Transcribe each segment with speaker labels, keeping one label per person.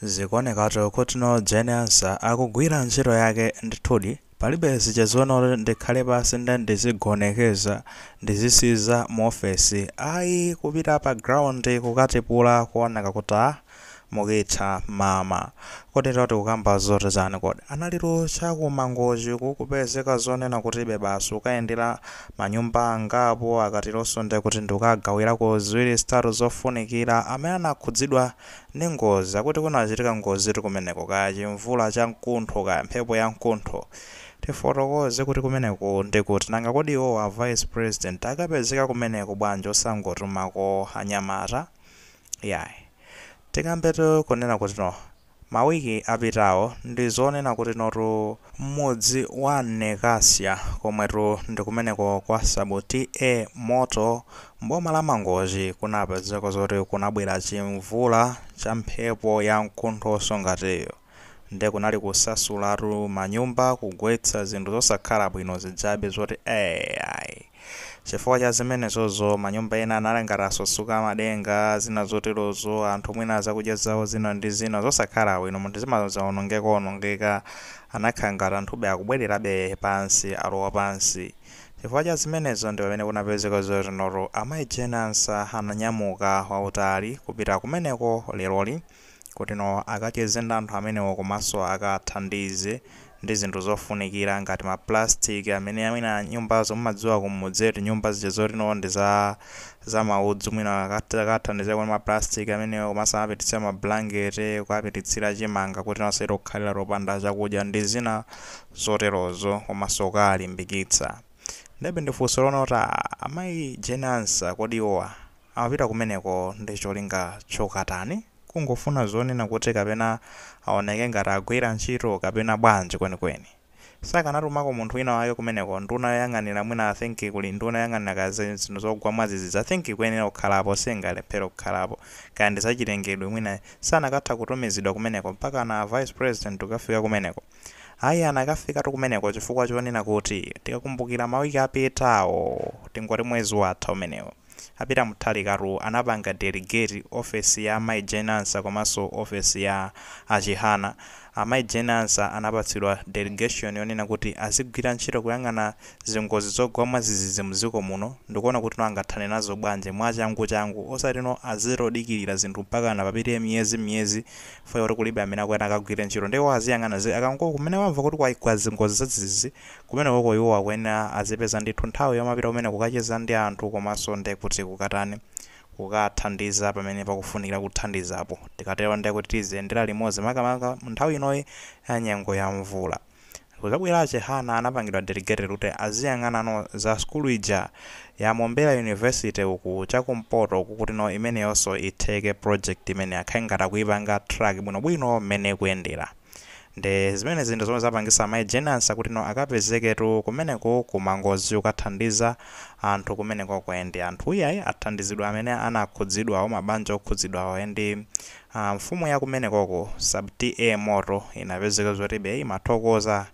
Speaker 1: Zikuonekatu kutino Jane Ansah akugwira ntchito yake ndithudi, palibe zija zonoti ndikhale pansi nde ndizigonekeza, ndizisiza mu ofesi ayi kupita pa ground kukatipula kuoneka kuti aah mukitha mama. Kodi tikukamba zoti chani kodi? Analitu cha ku Mangochi kukupezeka zonena kutibe basi kukayendera ma nyumba angapo akateronso ndekuti ndikukagawirako ziwiri zitatu zofunikira amene anakhudzidwa, ndi ngozi, akuti kunachitika ngozitu kumeneko, kaya chimvula cha mkuntho, kaya mphepo ya mkuntho. Tifotokoze kuti kumeneko ndi kuti, nanga kodi iwowo a Vice President akapezeka kumeneko bwanji osangotumako anyamata? Iyayi. Tikambetu kunena kutino, ma week apitawo ndi zonena kutinotu m'mudzi wa Nekasya komwetu ndi kumeneko kwa Sub TA Moto M'boma la Mangochi kunapezeka zoti kunabwera chimvula cha mphepo ya mkuntho wosongatiyo nde kunali kusasulatu manyumba kugwetsa zinthu zosakhala bwino zijabe zoti ee ayi. Chifukwa cha zimenezozo manyumba ena anali ngati asasuka madenga zina zoterozo anthu mwina zakudya zawo zina ndi zina zosakhala bwino moti zinthu zimazaonongekaonongeka anakhala ngati anthube akubwererabe pansi alowa pansi. Chifukwa cha zimenezo ndi pamene kunapezeka zotinotu Amayi Jane Ansah ananyamuka wawutali kupita kumeneko leroli kuti no akacheze ndi anthu amenewo komanso akawathandize ndi zinthu zofunikira ngati ma plastic amene mwina nyumbazo mumadziwa kumudzi eti nyumba zija zoti no ndi za maudzu mwina akati akawathandizeko ndi ma plastic amenewo komanso anawapititsira ma blanket kuwapititsira chimanga kuti no asati kukhalira topanda chakudya ndi zina zoterozo omasoka alimbikitsa ndebe ndi funso lonoti a amayi jane ansah kodi iwowa amapita kumeneko ndi cholinga chokatani kungofuna zonena kuti kapena aoneke ngati agwira ntchito kapena bwanji kwenikweni sakanatumako munthu wina wake kumeneko nduna yoyang'anira mwina i think kuli nduna yoyang'anira kaya za zinthu zogwa mwadzidzidzi i think ikuyenera kukhalapo singalephere kukhalapo kaya ndi zachilengedwe mwina sanakatha kutumizidwa kumeneko mpakana a vice president kukafika kumeneko Ayi anakafikatu kumeneko chifukwa chonena kuti tikakumbukira ma week apitawo tingoti mwezi watha umenewu a Peter Mutharikatu anapanga delegate ofesi ya amayi Jane Ansah komanso ofesi ya a Chihana amayi Jane Ansah anapatsidwa delegation yonena kuti azigwira ntchito kuyang'ana zingozi zogwa mwadzidzidzi mudziko muno ndikuona kutino angathane nazo bwanji mwachangu changu osatino azingodikilira zinthu mpakana papite miyezi miyezi chifukwa choti kulibe amene akuyenda akagwire ntchito ndiye iwo aziyang'ana akangoti kumene wamva kuti kwagwa zingozi zadzidzidzi kumenekoko iwowo akuyenera azipeza ndithu nthawi yomapita kumeneko kukacheza ndi anthu komanso ndiye kuti kukatani kukathandiza pamene pakufunikira kuthandizapo tikatero ndiye kuti tiziyendera limodzi makamaka nthawi inoyi ya nyengo ya mvula. Kuzabwela Chihana anapangidwa delegate kuti aziyang'anano za sukulu ija ya Mombera University uku cha kumpoto uku kuti no imeneyonso itheke project imeneyi akhale ngati akuyipanga track bwino bwino mmene ikuyendela nde zimenezi ndi zomwe zapangisa Mai Jane Ansah kuti no akapezeketu kumeneko ku Mangochi kukathandiza anthu kumenekoko and anthu iyayi athandizidwa amene anakhudzidwawo mabanja okhudzidwawo and Mfumu ya kumenekoko sub TA Moto inapezeka zoti be imathokoza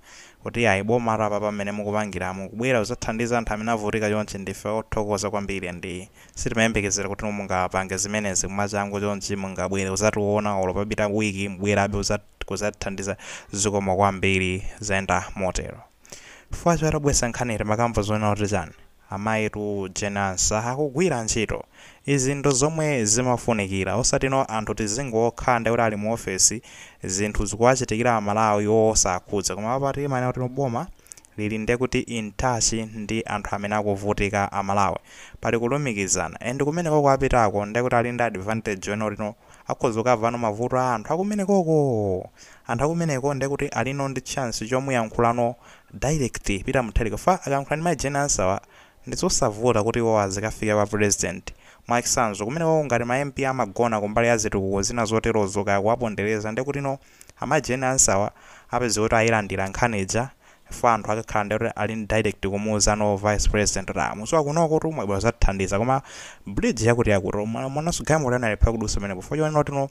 Speaker 1: kuti ayi bomatu apapa mmene mukupangiramu kubwera kuzathandiza anthu amene avutika chonchi ndife othokoza kwambiri and sitimayembekezera kuti mungapange zimenezi mwachangu chonchi mungabwere kuzationa olo papita week mubwerabe kuzatithandiza zikomo kwambiri zayenda motero chifukwa choti obwesa nkhaniyi timakamva zonena kuti chani Amayitu Jane Ansah akugwira ntchito. Izi ndi zomwe zimafunikira. Osatino anthu tizingokhala ndekuti ali mu office zinthu zikuwachitikira a Malawi iwo osakhudza. Koma apa timanena kuti no boma lili ndekuti in touch ndi anthu amene akuvutika a Malawi. Pali kulumikizana. And kumenekoko apitako ndekuti ali ndi advantage yonena kuti no akhoza kukavano mavuto a anthu akumenekoko! Anthu akumeneko ndekuti alino ndi chance chomuyankhulano direct peter mutharika chifukwa akayankhula ndi mai jane ansawa ndizosavuta kuti iwowo azikafike kwa president. mwachsanzo kumenekoko ngati ma mp amagona kumbali ya zitukuko zina zoterozo kaya kuwapondereza ndekutino amai jane ansawa apeze kuti ayilandira nkhani ija chifukwa anthu akakhala nde kuti ali ndi direct kumuuza no vice president kuti aah mudziwa kunokotu mwabwera kuzatithandiza koma bridge yakutiyakuti mwamwananso galimoto inalephera kudutsa pamenepo chifukwa chonenotino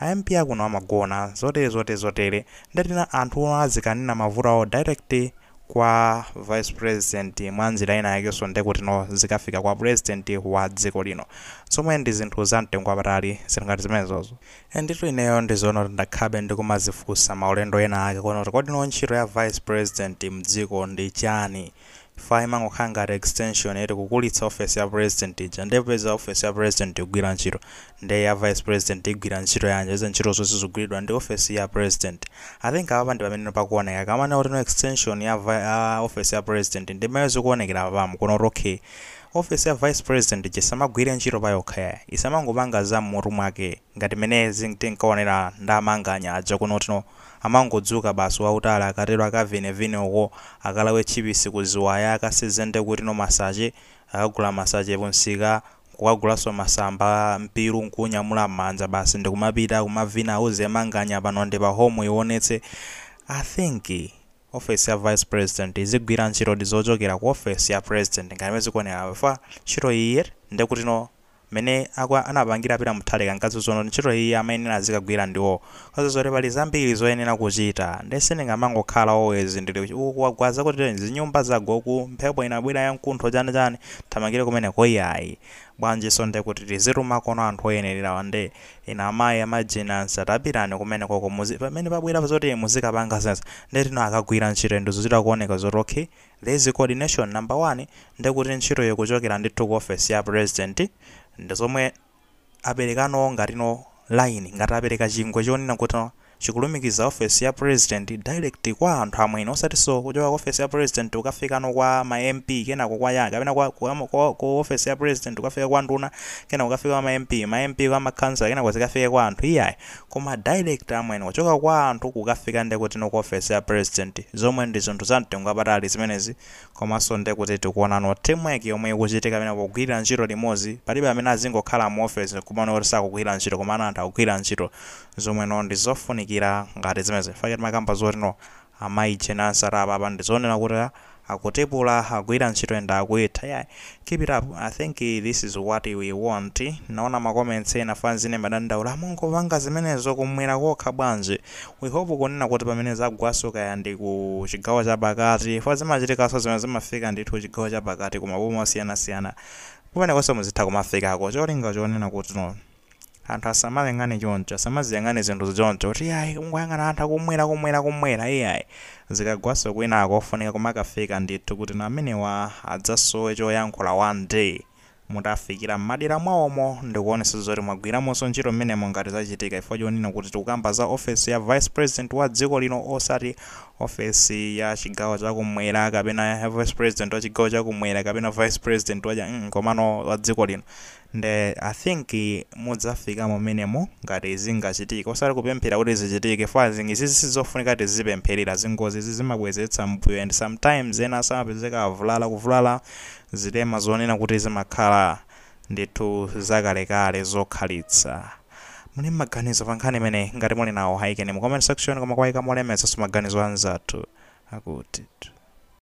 Speaker 1: A MP akuno amagona zotere zotere zotere ndekutino anthuwa azikanena mavuto awo direct kwa vice president mwanjira ina yakenso nde kutino zikafika kwa president wa dziko lino zomwe ndi zinthu za mtengo wapatali zinthu ngati zimenezozo. Enditu ineyo ndizonena kuti ndakhabe ndikumazifunsa maulendo ena ake kunena kuti kodino ntchito ya vice president mdziko ndi chani? Chifukwa imangokhala ngati extension eti kukulitsa office ya president ija nde popeza office ya president ikugwira ntchito nde ya vice president igwira ntchito yanji popeza ntchito zonse zikugwiridwa ndi office ya president. I think apapa ndipameneno pakuoneka akamanena kuti no extension ya vi ya office ya president ndimene zikuonekera apapamu kunena kuti ok office ya vice president ija isamagwire ntchito payokha yayi isamangopanga za mmutu mwake ngati mmene zin tinkaonera ndi amanganya aja kunena kuti no Amangodzuka basi wa utali akatero akavine vine uko, akalawe tchipisi ku ziwaya akaseze ndekuti no masaje, akagula masache ku msika nkukagulanso masamba, mpiru nkuunyamula mmanja basi ndikumapita akumavina auze Manganya pano ndi pa home uiwonetse. I think office ya vice president ikugwira ntchitodi zochokera ku office ya president ngati mmene zikuonekeramu chifukwa ntchito iyiyi ndekutino mene akwa anapangira peter muthalika nkazizono ntchito iyi amayenera azikagwira ndiwo cause zoti pali zambiri zoyenera kuchita nde sindingamangokhala always ndili uku kwagwa zakuti zinyumba zagwa uku mphepo inabwera yamkuntho chani chani nthamangire kumeneko iyayi bwanjiso nde kuti tizitumakono anthu oyenelerawa nde inu amayi a Jane Ansah tapitani kumenekoko muzi pamene pabwera zoti muzikapanga zimenezo nde kuti no akagwira ntchito and zikuchita kuoneka zoti okay There is coordination number one nde kuti ntchito ikuchokera ndithu ku office ya president ndi zomwe aperekano ngati no line ngati apereka chingwe chonena kuti chikulumikiza office ya president direct kwa anthu amwene osatinso kuchoka ku office ya president kukafikano kwa ma MP kenako kwa yani kapena kwa kwa ku office ya president kukafika kwa nduna kenako kukafika kwa ma MP ma MP kwa ma councillor kenako zikafike kwa anthu iyayi Koma direct amwene kuchoka kwa anthu kukafika nde kuti no ku office ya president zomwe ndi zinthu za mtengo wapatali zimenezi komanso nde kuti tikuona no team work yomwe ikuchitika apa pogwirira ntchito limodzi palibe amene azingokhala mu office nkumaoneka kuti sakugwira ntchito koma ena anthu akugwira ntchito zomwe no ndi zofunikira ngati zimenezi chifukwa chake timakamba zoti no A Mai Jane Ansah apapa ndizonena kuti akutipula akugwira ntchito and akuitha yeah keep it up I think this is what we want ndinaona ma comments ena fans ina imadandaula mumangopanga zimenezo kumwera kokha bwanji we hope kunena kuti pamene zagwaso kaya ndi ku chigawo chapakati chifukwa zimachitikaso zomwe zimafika ndithu chigawo chapakati ku maboma osiyanasiyana kumenekoso muzitha kumafikako cholinga chonena kuti no Anthu asamaziyang'ane choncho, asamaziyang'ane zinthuzi choncho, kuti iyayi kungoyang'ana anthu akumwera kumwera kumwera iyayi. Zikagwanso kwinako ofunika kumakafika ndithu kuti nawo amenewa adzasowe choyankhula one day. Mutafikira m'madera mwawomo ndikuonetsetsa zoti mwagwiramonso ntchito m'menemo ngati zachitika chifukwa chonena kuti tikukamba za ofesi ya Vice President wa dziko lino osati ofesi ya chigawo cha kumwera kapena ya Vice President wa chigawo cha kumwera kapena Vice President wa cha mm komano wa dziko lino. Nde I think mudzafikamo menemo ngati zingachitike osati kupemphera kuti zichitike fo as in izizi sizofunika tizipempherera zingozi izi zimabwezeretsa mmbuyo and sometimes enaso amapezeka avulala kuvulala zilema zonena kuti zimakhala ndithu zakalekale zokhalitsa muli ndi maganizo pa nkhani imeneyi ngati muli nawo ayikeni mu comment section koma kuwayika molemekezaso maganizo anzathu akuti